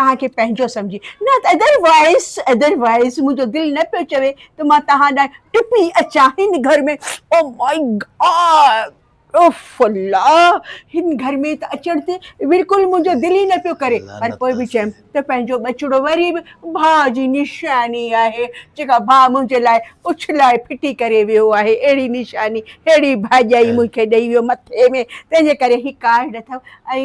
توهان کي پنهنجو سمجهي نه ته ادر وائيز ادر وائيز منهنجو دل نه پيو چوي ته مان توهان ڏانهن ٽپي اچان هن گهر ۾ او مائي گاڊ اف الله هن گهر ۾ ته اچڻ تي بلڪل منهنجو دل ئي نه پيو ڪري پر پوء به چيم ته پنهنجو ٻچڙو وري به ڀاء جي نشاني آهي جيڪا ڀاء منهنجي لاء اڇلائي ڦٽي ڪري ويو آهي اهڙي نشاني اهڙي ڀاڄائي مون کي ڏئي ويو مٿي ۾ تنهنجي ڪري هي ڪارڊ اٿم ۽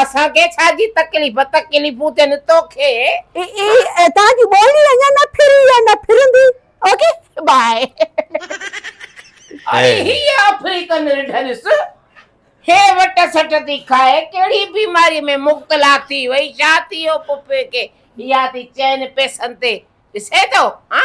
اسان کي ڇا جي تڪليف، تڪليفون ٿين توکي. اي تان جي ٻولي اڃا نه ڦري ۽ نه ڦرندي اوڪي بائي. اڙي هي آفريڪن رڍ ڏس هي وٽ سٽ ٿي کائي ڪهڙي بيماري ۾ مبتلا ٿي وئي ڇا ٿي ويو پڦي کي يا ٿي چئن پئسن تي ڏسين ٿو ها.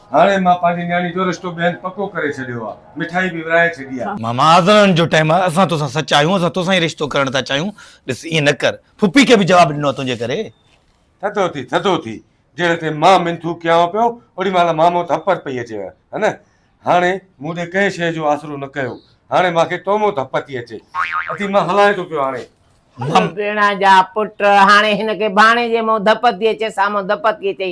هاڻي مان پنهنجي نياڻي جو رشتو به هن پڪو ڪري ڇڏيو آ. مٺائي به ورهائي ڇڏي آ. ماما آزرڻ جو ٽائيم آ. اسان توسان سچا آهيون. اسان توسان ئي رشتو ڪرڻ ٿا چاهيون. ڏس ائين نه ڪر. ڦڦي کي به جواب ڏنو آ تنهنجي ڪري. ٿڌو ٿي، ٿڌو ٿي. جهڙي تي مان منٿون ڪيانء پيو، اوڏي مهل مامو ڌپر پئي اچيو هه نه. هاڻي مون ڏي ڪنهن شيء جو آسرو نه ڪيو. هاڻي مان کي تومون ڌپ ٿي اچي. اٿي مان هلائين ٿو پيو هاڻي. مامو! ڀيڻان جا پٽ، هاڻي هن کي ڀاڻيجي مون ڌپ ٿي اچي، سامون ڌپ ٿي اچي.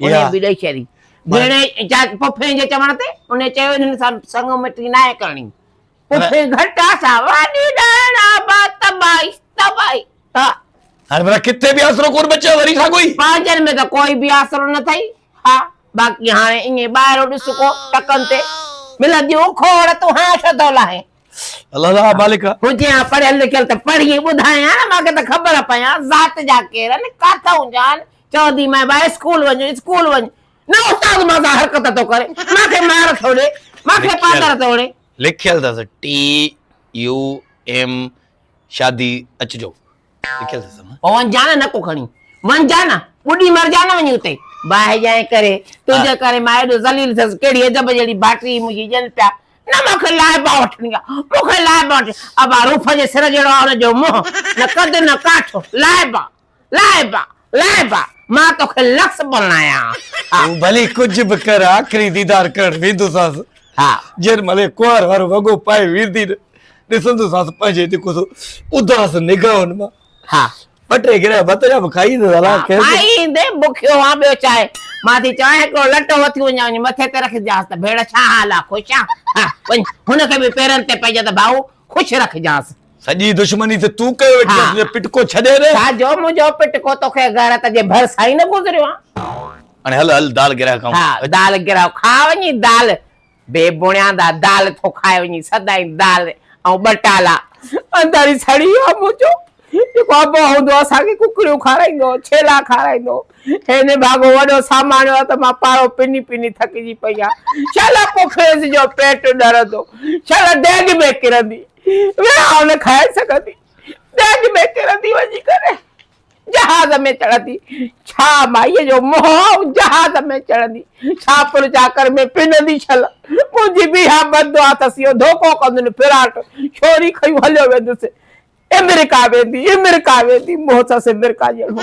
انهيء به ڏئي شري. جهڙي اجازت پڦيء جي چوڻ تي انهيء چيو، انهن سان سڱ مٽي ناهي ڪرڻي. پڦي گهٽا سان واڍي ڏائڻ آباد تباهي، تباهي، ها. هاڻي ڀلا ڪٿي به آسرو ڪونه بچيو وري ساڳوئي. پنهنجن ۾ ته ڪوئي به آسرو نه ٿئي، ها. باقي هاڻي ائين ٻاهرو ڏس ڪو ٽڪن تي ملنديون کوڙ تون هان ڇو ٿو لاهين. الله الله مالڪ. هجين ها پڙهيل لکيل ته پڙهي ٻڌايان مان کي ته خبر پيان ذات جا ڪير آهن، ڪاٿئون جا آهن، چوندي مئي ٻائي اسڪول وڃ اسڪول وڃ نه استاد مان سان حرڪت ٿو ڪري مان کي مار ٿو ڏي مان کي پاندر ٿو ڙي لکيل اٿس ٽي يو ايم شادي اچجو لکيل اٿس نه پو ونجا نه نڪو کڻي ونجا نه ٻڏي مرجا نه وڃي اتي باهه جائين ڪري تنهنجي ڪري مان ايڏو ذليل ٿيس ڪهڙي عجب جهڙي باٽري منهنجي ڄن پيا نه مان کي لائبا وٺڻي آ مون کي لائبا وٺي ابا روف جي سر جهڙو آ هن جو منهن نه قد نه ڪاٺ لائبا لائبا لائبا مان توکي لفظ بنايان ها. هو ڀلي ڪجهه به ڪر آخري ديدار ڪرڻ ويندوسانس. ها. جنهن مهل هي ڪنوار وارو وڳو پائي ويندي نه ڏسندوسانس پنهنجي جيڪو سو اداس نگاهن مان ها. ٻه ٽي گرهه ڀت جا به کائي ايندس الاء ڪنهن کي. کائي ايندي بکيو هان ٻيو ڇا آهي. مان ٿي چوان هڪڙو لٽو وٿي وڃان وڃي مٿي تي رکجانس ته ڀيڻ ڇا حال آهي خوش آهين ها وڃ هن کي به پيرن تي پئجان ته ڀائو خوش رکجانس. سڄي دشمني ته تون ڪيو ويٺي آهين تنهنجو پٽڪو ڇڏي ڏي. ڇا جو منهنجو پٽڪو توکي غيرت جي ڀر سان ئي نه گذريو آ. هاڻي هل هل دال گرهه کائون. ها دال گرهه کاء وڃي دال بي بڻياندا دال ٿو کائي وڃي سدائين دال ۽ ٻٽالا. انڌاري سڙي آ منهنجو جيڪو ابو هوندو اسان کي ڪڪڙيون کارائيندو ڇيلا کارائيندو هي نڀاڳو وڏو ساماڻيو آ ته مان پاڙو پني پني ٿڪجي پئي آ شالا پوکريس جو پيٽ ڏرندو شالا ڊيڳ ۾ ڪرندي. ويهان نه کائي سگهندي، ڏيڄ ۾ ڪرندي وڃي ڪري، جهاز ۾ چڙهندي، ڇا مائيء جو منهن آئون جهاز ۾ چڙهندي، ڇا پڻ چاڪر ۾ پنندي ڇل، منهنجي به اها بد دعا اٿس، اهو ڌوڪو ڪندن ڦراٽ، ڇوري کنيون هليو ويندس، امريڪا ويندي، امريڪا ويندي، منهن اٿس امريڪا جهڙو.